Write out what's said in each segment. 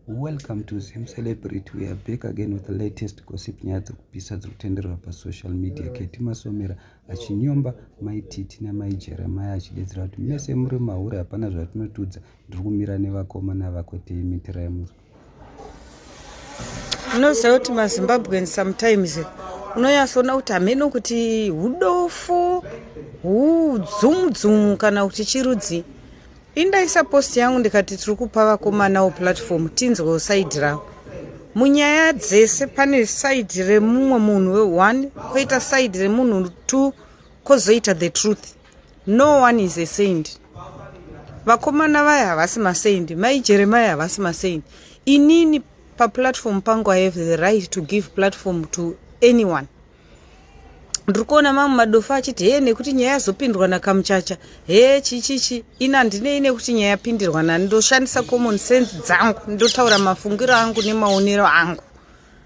Welcome to Zim Celebrity. We are back again with the latest gossip nyaya dzekupisa dziri kutenderera pasocial media. Keti Masomera achinyomba mai Titi namai Jeremiah achidedzera kuti mese muri mahure hapana zvatinotudza. Ndiri kumira nevakomana vako tei mitira yemusi. Unoziva kuti maZimbabwean sometimes unonyatsoona kuti hameno kuti hudofo hudzumudzumu kana kuti chirudzi indaisa post yangu ndikati tiri kupa vakomanawo platform tinzwewo saidi ravo munyaya dzese pane saidi remumwe munhu weone koita saidi remunhu two kozoita the truth no one is a saint vakomana vaya havasi masaint mai jeremaya havasi masaint inini paplatform pangu i have the right to give platform to anyone ndiri kuona mamwe madofa achiti hee nekuti nyaya yazopindwa nakamuchacha hee chichichi ina ndinei nekuti nyaya yapindirwa nani ndoshandisa common sense dzangu ndotaura mafungiro angu nemaonero angu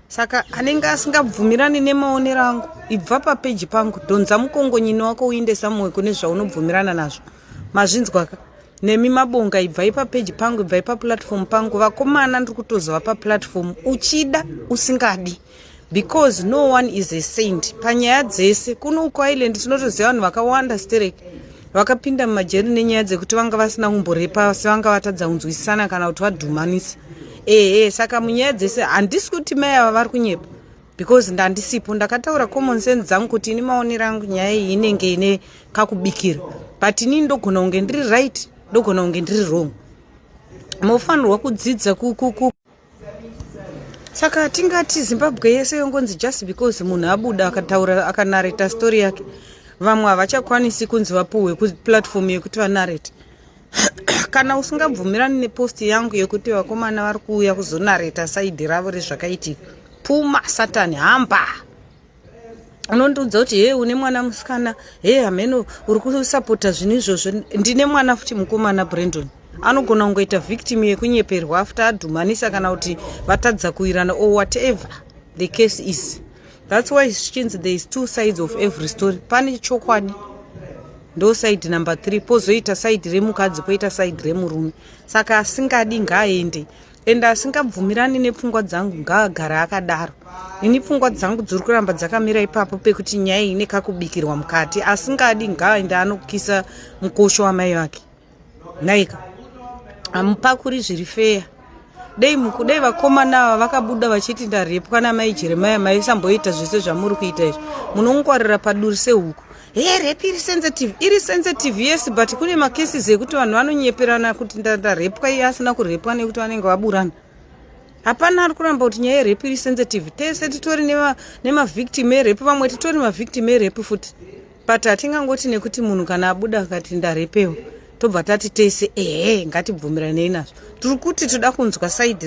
saka anenge asingabvumirani nemaonero angu ibva papeji pangu dhonza mukongonyini wako uindesa mumwe kune zvaunobvumirana nazvo mazvinzwaka nemi mabonga ibvai papeji pangu ibvai paplatform pangu vakomana ndiri kutozova paplatform uchida usingadi because no one is a saint panyaya dzese kuno uko island tinotoziva vanhu vakawanda sterek vakapinda mumajeri nenyaya dzekuti vanga vasina kumborepa asi vanga vatadza kunzwisisana kana kuti vadhumanisa ehe saka munyaya dzese handisi kuti mai ava vari kunyepa because ndandisipo ndakataura common sense dzangu kuti ini maonero angu nyaya iyi inenge ine kakubikira but inini ndogona kunge ndiri right ndogona kunge ndiri wrong mofanirwa kudzidza kukuku saka tingati zimbabwe yese yongonzi just because munhu abuda akataura akanareta story yake vamwe havachakwanisi kunzi vapuhwe kuplatform yekuti vanarete kana usingabvumirani nepost yangu yekuti vakomana vari kuuya kuzonareta saidi ravo rezvakaitika puma satani hamba unondiudza kuti hee une mwana musikana hee hameno uri kusapota zvinhu izvozvo ndine mwana futi mukomana brandon anogona kungoita victim yekunyeperwa after adhumanisa kana kuti vatadza kuirana or whatever the case is thats why chinzi there is two sides of every story pane chokwadi ndo side number three pozoita side remukadzi poita side remurume saka asingadi ngaaende ende asingabvumirani nepfungwa dzangu ngaagara akadaro ini pfungwa dzangu dziri kuramba dzakamira ipapo pekuti nyaya ine kakubikirwa mukati asingadi ngaaende anokisa mukosho wamai vake nhaika hamupakuri zviri feya dei mukudei vakomana ava vakabuda vachiti ndarepwa namai jeremaya maisamboita zvese zvamuri kuita izvi munongwarira paduri sehuku Hey, rape iri sensitive iri sensitive yes but kune macases ekuti vanhu vanonyeperana kuti ndarepwa iye asina kurepwa nekuti vanenge vaburana hapana ari kuramba kuti nyaya yerepu iri sensitive tese titori nemavictim erepu vamwe titori mavictim erepu futi but hatingangoti nekuti munhu kana abuda akati ndarepewa tobva tati tese ehe ngatibvumiranei nazvo tiri kuti toda kunzwa saidi